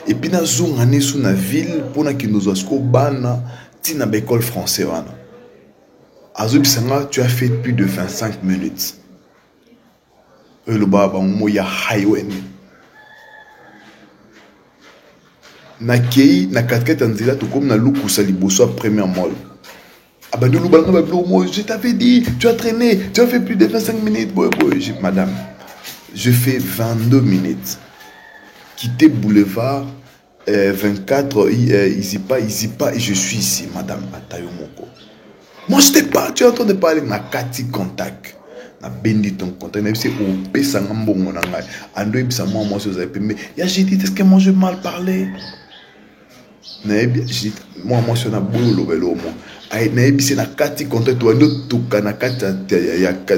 epuis nazonga nesu na ville mpo nakende ozwa sikoyo bana ntina ba ecole français wana azobisa nga tu as fait plus de 25 minutes oyo elobaka bango mo ya highwen nakei na katikati ya nzela tokomi na lukusa liboso ya première mall abandi olobala nga babiloko moi je t'avais dit tu as traîné tu as fait plus de 25 minutes boye boye je madame je fais 22 minutes quitter boulevard euh, 24 euh, isipa isipa et je suis ici madame ata yo moko moi je t'ai pas tu es en train de parler na kati contact nabendi ton contact nayebi se opesa nga mbongo na ngai ando yebisa mwa mwasi ozali pembe ya j'ai dit est ce que moi je mal parler nayebi mwa mwasi wana boyi oloba eloo mwa nayebi se na kati contact wandi otuka na kati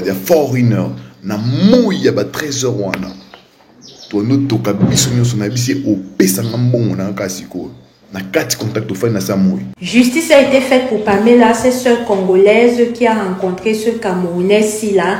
ya foreigner na moi ya ba 13 heures wana tondi otuka biso nyonso nayebi se opesanga mbongo na kaka sikoyo na kati contact ofandi na sa moi Justice a été faite pour Pamela, cette sœur congolaise qui a rencontré ce Camerounais Sila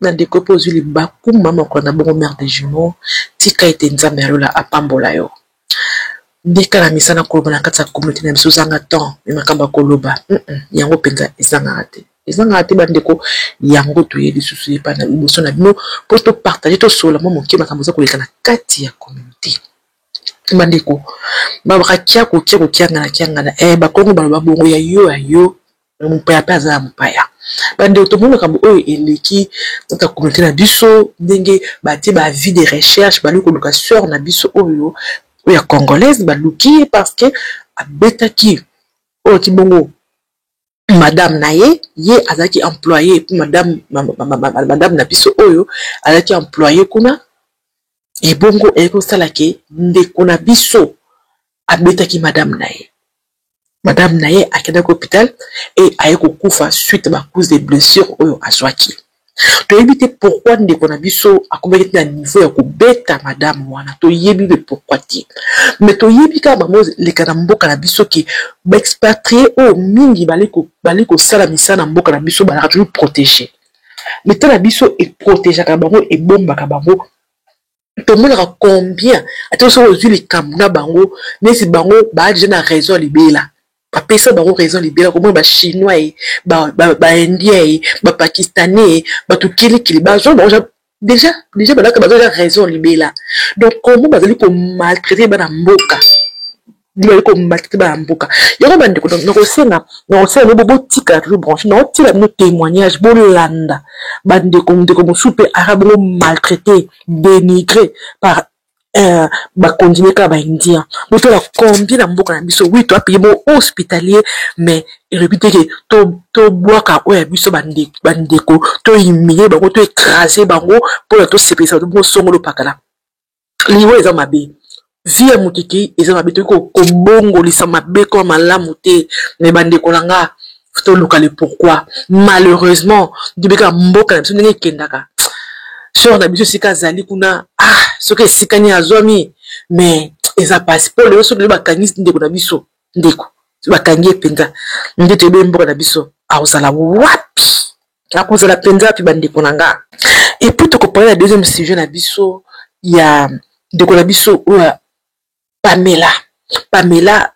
Na ndeko pe ozui libaku mama makola na bongo mère de jumeaux tika ete nzambe ya lola apambola yo meka na misala koloba na kati ya communaute na biso ozanga temps mais makambo ya koloba yango penza ezangaka te ezangaka te ba ndeko yango toye lisusu ye epa na liboso na bino po to partager to solola mua moke makambo eza koleka na kati ya communaute ba ndeko ba baka kiaku kiaku kiangana kiangana eh bakongo baloba bongo ya yo ya yo me mopaya mpe aza ya mopaya bandeko tomoni makambo oyo eleki tata communauté na biso ndenge batie ba avis de recherche baluki koluka sœur na biso oyo oyo ya congolaise baluki ye parce que abetaki oyo ki bongo madame na ye ye azalaki employe mpe madame madame na biso oyo azalaki employe kuna ebongo ekosala ke ndeko na biso abetaki madame na ye madame na ye akendaki hôpital e aye kokufa suite ba cause de blessure oyo azwaki toyebi te pourkui ndeko na biso akomaki te na niveau ya kobeta madame wana toyebi le pourkui te me toyebi kaka bango leka na mboka na biso ke baexpatrie oyo mingi bali kosala misala na mboka na biso balaka toujours protege leta na biso eprotegeaka bango ebombaka bango tomonaka combien ata soki ozwi likambo na bango neti bango baa deja na raison libela bapesa bango raison libela komona bachinois ye baindien ye bapakistanais ye bato kilikili bazwa bango deja deja balaka baza deja raison libela donc komo bazali komaltraite bana mboka bazali komaltraite bana mboka yango bandeko donc nakosenga nakosenga bino botika toujours branche naotiela bino témoignage bolanda bandeko ndeko mosusu mpe aka bongo maltraite dénigre par eh, bakontinue kaka baindia botala combien na mboka na biso wi toa paye bo hospitalier mais elobi te ke tobwaka oyo ya biso bandeko tohumilie bango to écrase bango mpona tosepelisa bato bongo songo lopakala liwa eza mabe vie ya moto ekei eza mabe toki kobongolisa mabe koma malamu te me bandeko na nga toluka le pourquoi malheureusement toyebi kaka mboka na biso ndenge ekendaka sor na biso esika azali kuna ah soki esika nini azwami mais eza pasi mpo lelo soki lelo bakangi ndeko na biso ndeko bakangi ye mpenza nde toyebi mboka na biso akozala wapi akozala mpenza wapi bandeko na nga epuis tokopona na deuxième sujet na biso ya ndeko na biso oyo pamela pamela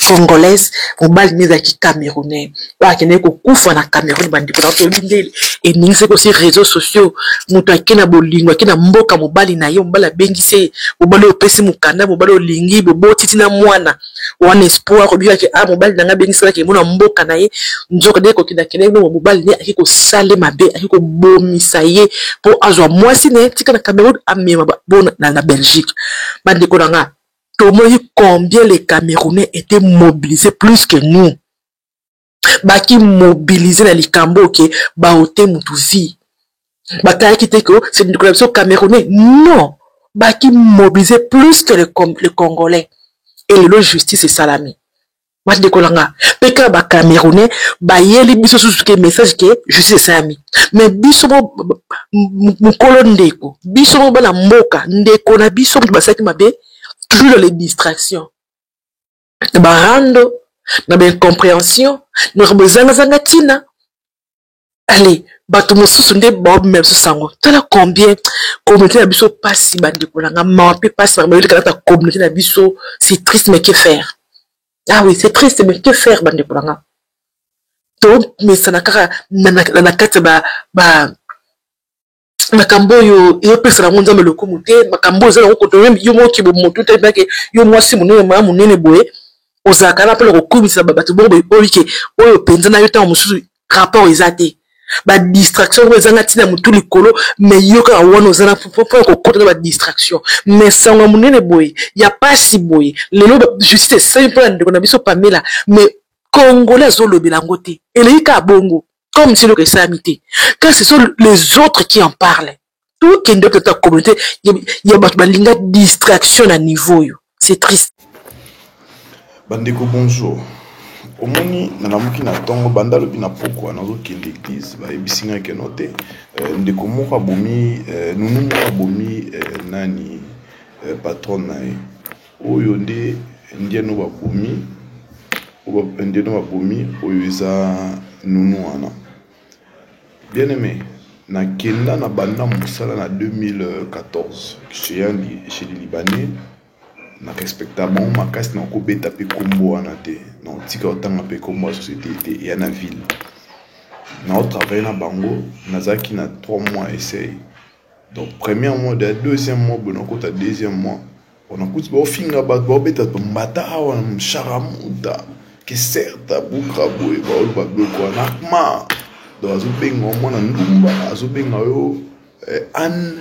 congolaise mobali nde ezalaki camerounais oyo akendaki kokufa na cameroun bandeko na toyebi nde eningisi ekosi réseau sociaux moto ake na bolingo ake na mboka mobali na ye mobali abengisi ye mobali oyo opesi mokanda mobali olingi bobotiti na mwana wana espoir obikaki a ah, mobali na ngai abengisalaki emona mboka na ye nzoka nde kokenda kendaki nongo mobali nde ake kosale mabe ake kobomisa ye mpo azwa mwasi na ye tika na cameroun amema bona na belgique bandeko na ngai tomoni combien les camerounais ete mobilise plus que nous baki mobilise na likambo oke baote motu vie bakayaki te ko se ndeko na biso camerounais non baki mobilise plus que le, le congolais elelo justice esalami bandeko na nga mpe kaka ba camerounais bayeli biso susu ke message ke justice esalami me biso bo mokolo ndeko biso bo bana mboka ndeko na biso moto basalaki mabe toujours dans les distractions na barando na baincompréhension na makambo ezangazanga ntina ale bato mosusu nde baobi na biso sango tala combien communauté na biso mpasi bandeko na nga mawa mpe mpasi na bayoli kalata communauté na biso c'est triste mais que faire ah oui c'est triste mais que faire bandeko na nga tomesana kaka na kati ya ba makambo oyo ezopesa nango nzambe lokumu te makambo oyo eza nango koto yo moko kibo motu te mpake yo mwasi monene maya monene boye ozalaka na mpona kokumisa bato bongo boye oyo ke oyo mpenza na yo ntango mosusu rapport eza te badistraction oyo ezanga ntina motu likolo me yo kaka wana oza na mpo ya kokota na badistraction me sango ya monene boye ya mpasi boye lelo justice esali mpo na ndeko na biso pamela me congolais azolobela yango te eleki kaka bongo comme si eloko esalami te quand ce sont les autres qui en parlent tokende peut-être na communauté ya bato balinga distraction na niveau oyo c'est triste bandeko bonjour omoni nalamuki na ntongo banda lobi na pokwa nazokende eglise bayebisi ngai keno te eh, ndeko moko abomi eh, nunu moko abomi eh, nani patron na ye Oyo nde ndien oyo babomi oyo ndien oyo babomi oyo eza nounou wana bien aime na kenda na banda mosala na 2014 chez un chez les libanais na respecta bango makasi na kobeta mpe kombo wana te na otika otanga mpe kombo ya société te ya na ville na otravaille na bango nazalaki na 3 mois essai donc première mois de deuxième mois boye nakota deuxième mois onakuti baofinga bato baobeta tombata awa na sharamuta keserta buka boye baoloba biloko wana akma donc azobenga yo mwana ndumba azobenga yo eh, anne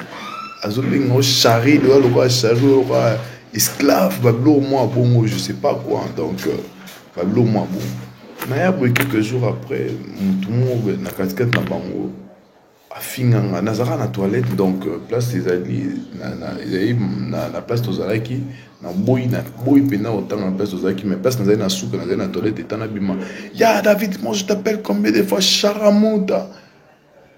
azobenga yo charri loya lokola charri lokola esclave babiloko mwa bongo je sais pas quoi donc euh, babiloko mwa bongo naya boye quelques jours après motu moko na katikati na bango Afinga nga nazalaka na toilette donc place ezali ezali na place tozalaki naboyi naboyi mpenza kotanga na place tozalaki mais place nazali na suka nazali na toilette eta nabima ya David moi je t'appelle combien de fois Sharamuta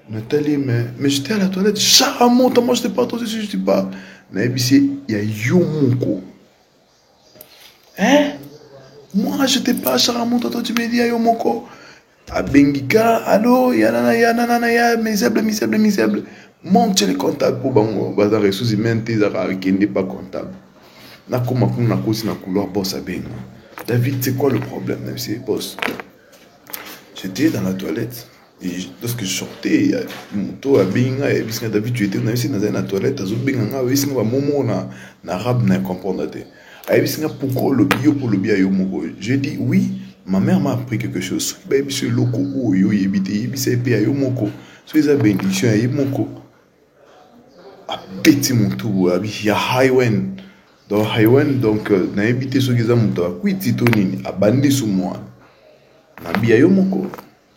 natali ye mais mais j'étais à la toilette Sharamuta moi je te parle toi aussi je te parle nayebisi ya yo moko hein moi je te pas chara moto to tu me dis yo moko abengi ka alo ya nana ya nana na ya misable misable misable monte le comptable mpo bango baza ressources humaines te ezaka akende pas comptable nakoma kuna nakosi na couloir boss abenga david c'est quoi le problème na biso boss j'étais dans la toilette Et lorsque je sortais, ya moto abengi ngai ayebisi ngai David tu étais nayebisi nazali na toilette azobenga ngai ayebisi ngai bamomo na na arabe na comprendre te ayebisi ngai pourquoi olobi yo mpo olobi ya yo moko je dis oui ma mère m'a appris quelque chose soki bayebisi eloko oyo oyebi te yebisa ye mpe ya yo moko soki eza benediction ya ye moko abeti motu boye abi ya highwen donc highwen donc euh, nayebi te soki eza moto akwiti to nini abandi sumu wana nabi ya yo moko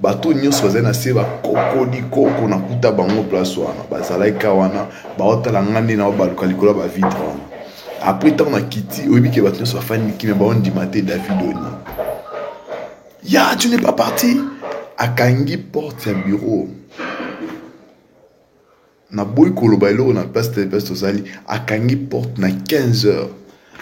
bato oyo nyonso bazali na se bakokoli koko nakuta bango place wana bazalaki ka wana baotala ngai nde naobaluka likolo ya bavitre wana apres ntango nakiti oyebi ke bato nyonso bafandi mikimi baondima te david oni ya tu ne pas parti akangi porte ya bureau Naboyi koloba eloko na place te place tozali akangi porte na 15 heures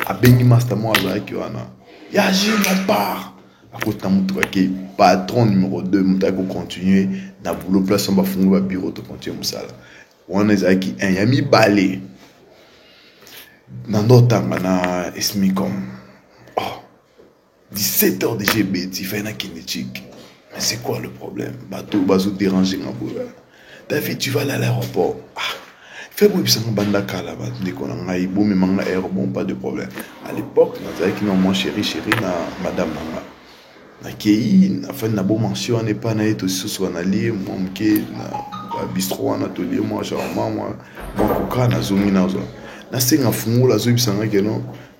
abengi masta moko azalaki wana ya jino part akoti na motuka ke patron numero 2 moto ayaki kocontinue na boulot place wana bafungoli babureau tocontinue mosala wana ezalaki 1 ya mibale na ndotanga na esmicom 17 heures déjà ebeti fai na kende chiki mais c'est quoi le problème bato bazo déranger nga boya david tu vas aller à l'aéroport ah fai boyebisa nga banda kala bandeko na ngai bomema nga air bon pas de problème à l'époque nazalaki na mwa chéri chéri na madame na nga nakei afani na bomansi wana epai na ye tosusu wanalie mwa moke na babistro wana tolie mwa charma mwa mwa koka nazongi nazwa nasenga fungola azoyebisa nga keno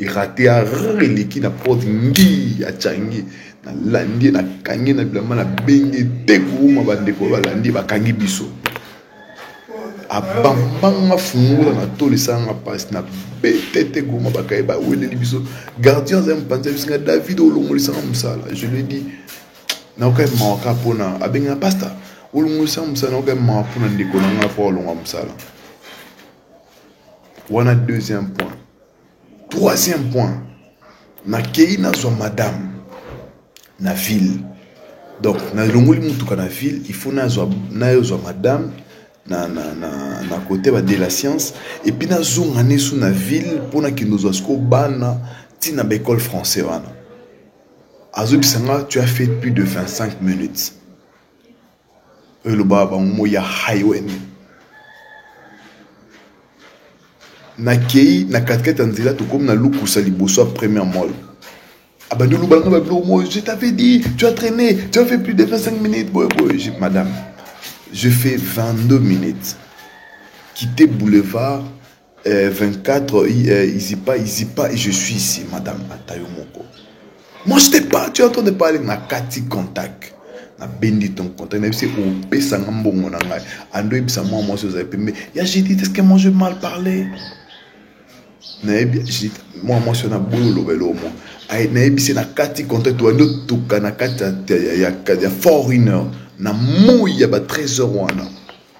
erate ya eleki na porte ngi ya changi nalandi nakangi na bilamba na bengi te kouma bandeko balandi bakangi biso abambanga fungola na tolo esalanga mpasi na bete te kouma bakaye baweleli biso gardien azali mopanzi ya bisinga david olongolisanga mosala je lui dit naokai mawaka mpona abengana pasta olongolisanga mosala naokai mawa mpona ndeko na ngai mpo olonga mosala wana deuxième point troisième point nakei nazwa madame na ville donc nalongoli motuka na ville il faut nazwa nayozwa madame na, na, na, na kote ba de la science epuis nazonga nesu na ville mpo nakende ozwa siko bana ntina baekole français wana azobisa nga tu as fait plus de 25 minutes oyo elobaka bango moi ya highway nakei na katikati ya nzela tokomi na lukusa liboso ya première mole abandi oloba nanga babiloko moi je t'avais dit tu as traîné tu as fait plus de 25 minutes boye boye madame je fais 22 minutes quitter boulevard Eh, 24 eh, izipa izipa je suis ici madame ata yo moko moi je t'ai pas tu es en train de parler na kati contact nabendi ton contact nayebi se opesa nga mbongo na ngai ando oyebisa mwa mwasi ozali pembe ya judith est-ce que moi je mal parler nayebi judith mwa mwasi wana boyi oloba eloo mwa nayebi se na kati contact wandi otuka na kati ya foreigner na moi ya ba 13 heures wana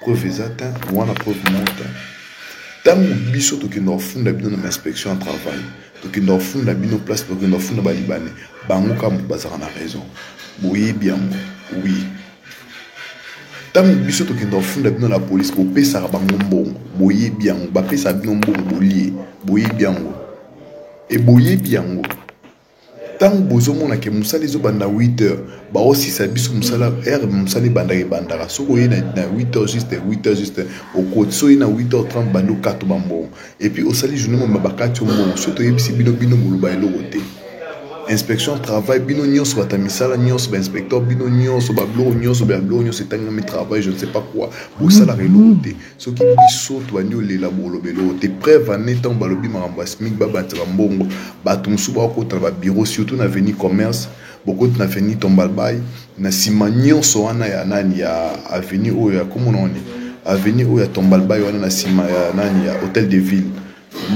Preuve eza tein wana preuve moko tein tango biso tokenda kofunda bino na ba inspection ya travail tokenda kofunda bino place tokenda kofunda ba libanais bango kaka moto bazalaka na raison boyebi yango oui ntango biso tokenda kofunda bino na polisi bopesaka bango mbongo boyebi yango bapesaka bino mbongo bolie boyebi yango e boyebi yango Tangu bozo mona ke musala ezo banda 8 heure ba zo silisa biso musala heure musala ebandaka ebandaka soki oye na 8 heure juste 8 heure juste okoti soki oye na 8 heure 30 obandi okata ba mbongo et puis osali journee mobimba ba kati yo mbongo soki toyebisi bino bino boloba eloko te inspection ya travail bino nionso batu ya misala nionso ba inspecteur bino nionso ba biloko nionso ba biloko nionso etangami travail je ne sais pas quoi bosalaka eloko te. Soki biso tobandi olela bolobela oyo te preuve ane ntango balobi makambo ya SMIC babandisa bambongo bato mosusu bakokota na babiro surtout na avenue commerce bokoti na avenue Tombalbay na nsima nyonso wana ya nani ya avenue oyo ya komona wana avenue oyo ya Tombalbay wana na nsima ya nani ya hotel de ville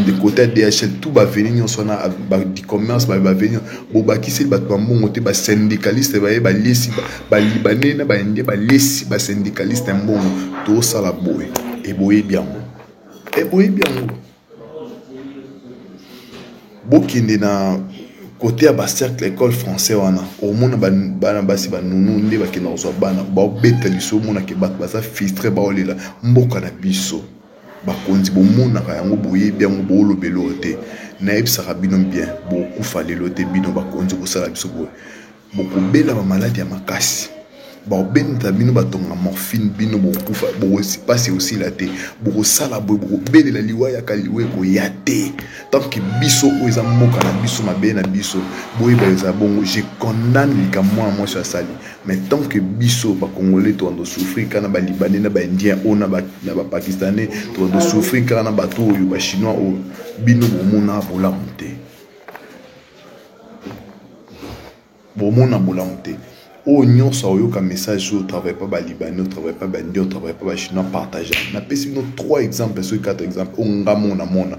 de côté DHL tout ba venir nyonso wana ba du commerce ba ba venir bo ba kisi ba ba mbongo te ba syndicaliste ba ye ba lesi ba libanais na ba indien ba lesi ba syndicaliste mbongo to sala boye et boye bien et boye bien bo kende na côté ya bacercle école français wana omona bana basi banunu nde bakenda kozwa bana baobeta liso omonake bato baza filtre baolela mboka na biso Bakonzi bomonaka yango boyebi yango booloba eloko te nayebisaka bino bien bokokufa lelo te bino bakonzi kosala biso boye bokobela ba maladi ya makasi baobenda bino batonga morphine bino bokokufa bokosipasi osila te bokosala boye bokobelela liwa yaka liwa ekoya te tanke biso oyo eza mboka na biso mabele na biso boyeba eza bongo je condamne likambo mwana mwasi asali Mais tant que biso ba congolais to ando souffrir kana ba libanais na ba indiens o na ba na ba pakistanais to ando souffrir kana na bato oyo ba chinois oyo bino bomona bolamu te bomona bolamu te oyo nyonso aoyoka message oyo travaille pas ba libanais o travaille pas ba indiens o travaille pas ba chinois partage napesi bino trois exemples soki quatre exemples oyo nga mona mona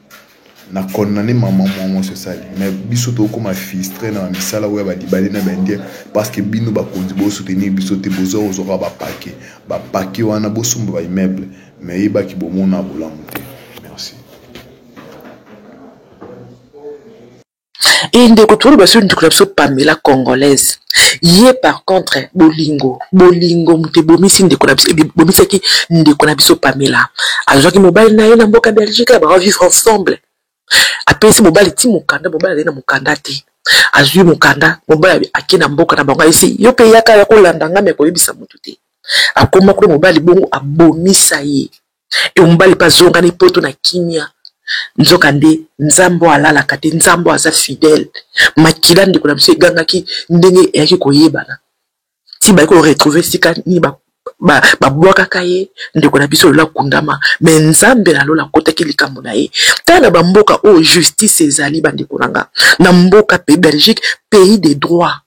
na condamne maman mwa mwasi osali mais biso tokoma fistre na misala oyo ya balibale na baindien parce que bino bakonzi bosoutenir biso te boza kozwaka bapake bapake wana bosomba baimmeuble mais eyebaki bomona bolamu te merci Et ndeko tolo baso ndeko na biso Pamela congolaise. Ye par contre bolingo, bolingo moto ebomisi ndeko na biso ebomisaki ndeko na biso Pamela. Azwaki mobali na ye na mboka Belgique ba vivre ensemble. Apesi mobali ti mokanda, mobali azali na mokanda te. Azwi mokanda, mobali ake na mboka na bango ayebisi yo mpe yaka ya kolanda ngai me koyebisa moto te. Akoma kuna mobali bongo abomisa ye. Et mobali mpe azongani poto na kimia nzoka nde nzambe oyo alalaka te nzambe oyo aza fidèle makila ndeko na biso egangaki ndenge eyaki koyebana ti bayaki koretrouve esika nini babwakaka ye ndeko na biso lola kundama me nzambe na lola akotaki likambo na ye ntango na bamboka oyo justice ezali bandeko na nga na mboka pe belgique pays de droit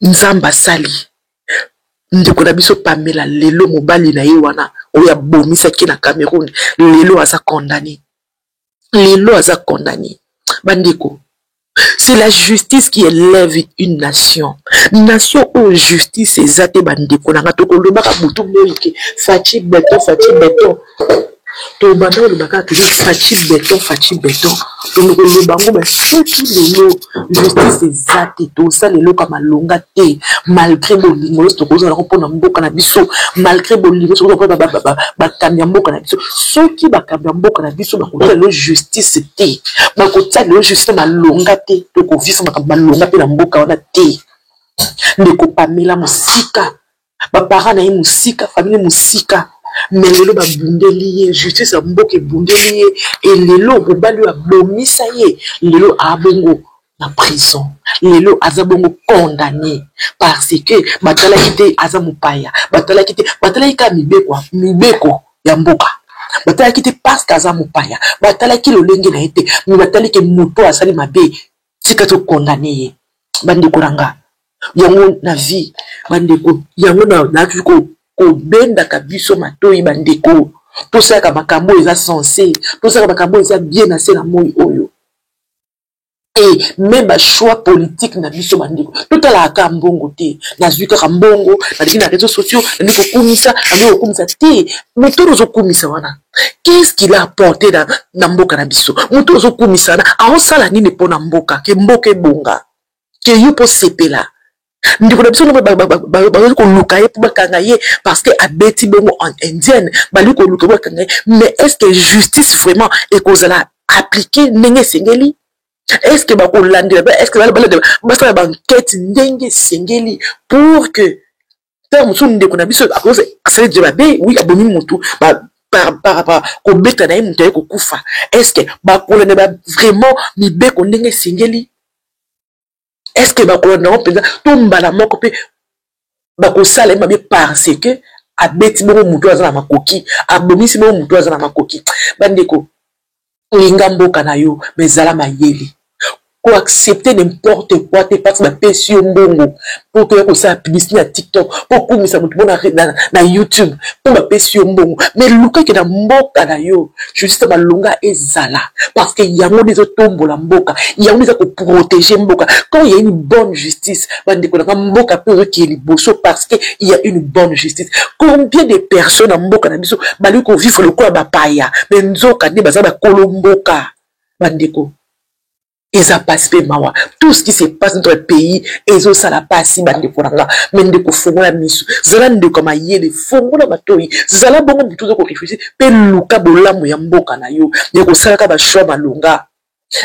nzambe asali ndeko na biso pamela lelo mobali na ye wana oyo abomisaki na cameroun lelo aza condamne lelo aza condamne bandeko c'est la justice qui élève une nation nation oyo justice eza te bandeko na nga tokolobaka butu boyike faci beton faci beton tobanda koloba kaka toza faci beton faci beton tondo koloba yango ba soki lelo justice eza te tosala eloko ya malonga te malgré bolingo nyonso tokozala ko mpona mboka na biso malgré bolingo nyonso kozala mpona bakambi ya mboka na biso soki bakambi ya mboka na biso bakotia lelo justice te bakotia lelo justice malonga te tokovisa makambo malonga mpe na mboka wana te ndeko pamela mosika bapara na ye mosika famili mosika me lelo babundeli ye justice ya mboka ebundeli ye e lelo mobali oyo abomisa ye lelo abongo na prison lelo aza bongo condamne parce que batalaki te aza mopaya batalaki te batalaki kaka mibeko mibeko ya mboka batalaki te parce que aza mopaya batalaki lolenge na ye te me batalaki moto asali mabe tika to condamne ye bandeko na nga yango na vie bandeko yango naaki kobendaka biso matoi bandeko tosalaka makambo oyo eza sense tosalaka makambo oyo eza bien na se na moi oyo et même bachoix politique na biso bandeko totalaka kaka mbongo te nazwi kaka mbongo nalingi na réseau sociaux nalingi kokumisa nalingi kokumisa te moto oyo ozokumisa wana qu'est-ce qu'il a apporté na, na mboka na biso moto ozokumisana aosala nini mpo na mboka ke mboka ebonga ke yo mpo sepela ndeko na biso noko bakoki koluka ye mpo bakanga ye parce que abeti bongo en indienne balingi koluka bakanga ye mais est ce que justice vraiment ekozala appliquer ndenge esengeli est ce que bakolandela est ce que balandela basala bankete ndenge esengeli pour que ntango mosusu ndeko na biso asali je babe wi abomi motu parapara kobeta na ye moto aye kokufa estce bakolanda ba vraiment mibeko ndenge esengeli estce bakolanda yango mpenza to mbala moko mpe bakosala ye mabe parce que abeti bongo moto aza na makoki abomisi bongo moto aza na makoki bandeko linga mboka na yo mais zala mayele ko accepter n'importe quoi te parce bapesi yo mbongo po okoya kosala publicité na tiktok po okumisa moto mpo na youtube po bapesi yo mbongo mais lukaki na mboka na yo juste malonga ezala parce que yango nde ezotombola mboka yango nde eza koprotege mboka quand ya une bonne justice bandeko na nga mboka mpe ozokiye liboso parce que il y a une bonne justice combien de personnes na mboka na biso balingi kovivre lokola bapaya me nzoka nde baza bakolo mboka bandeko eza pasi mpe mawa tout ce qui se passe notre pays ezosala pasi bandeko na nga me ndeko fongola miso zala ndeko ya mayele fongola matoi zala bongo motu oza koreflechi mpe luka bolamu ya mboka na yo ya kosalaka bashoi malonga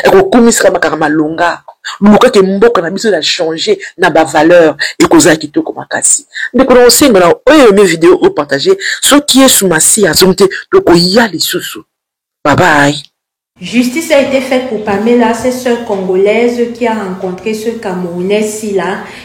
ekokumisaka makaka malonga luka ke mboka na biso ya changer na ba valeur ekozala kitoko makasi ndeko na osenga na oyo yome video o partage soki yesu masiya azongi te tokoya lisusu babai Justice a été faite pour Pamela, cette sœur congolaise qui a rencontré ce Camerounais Sila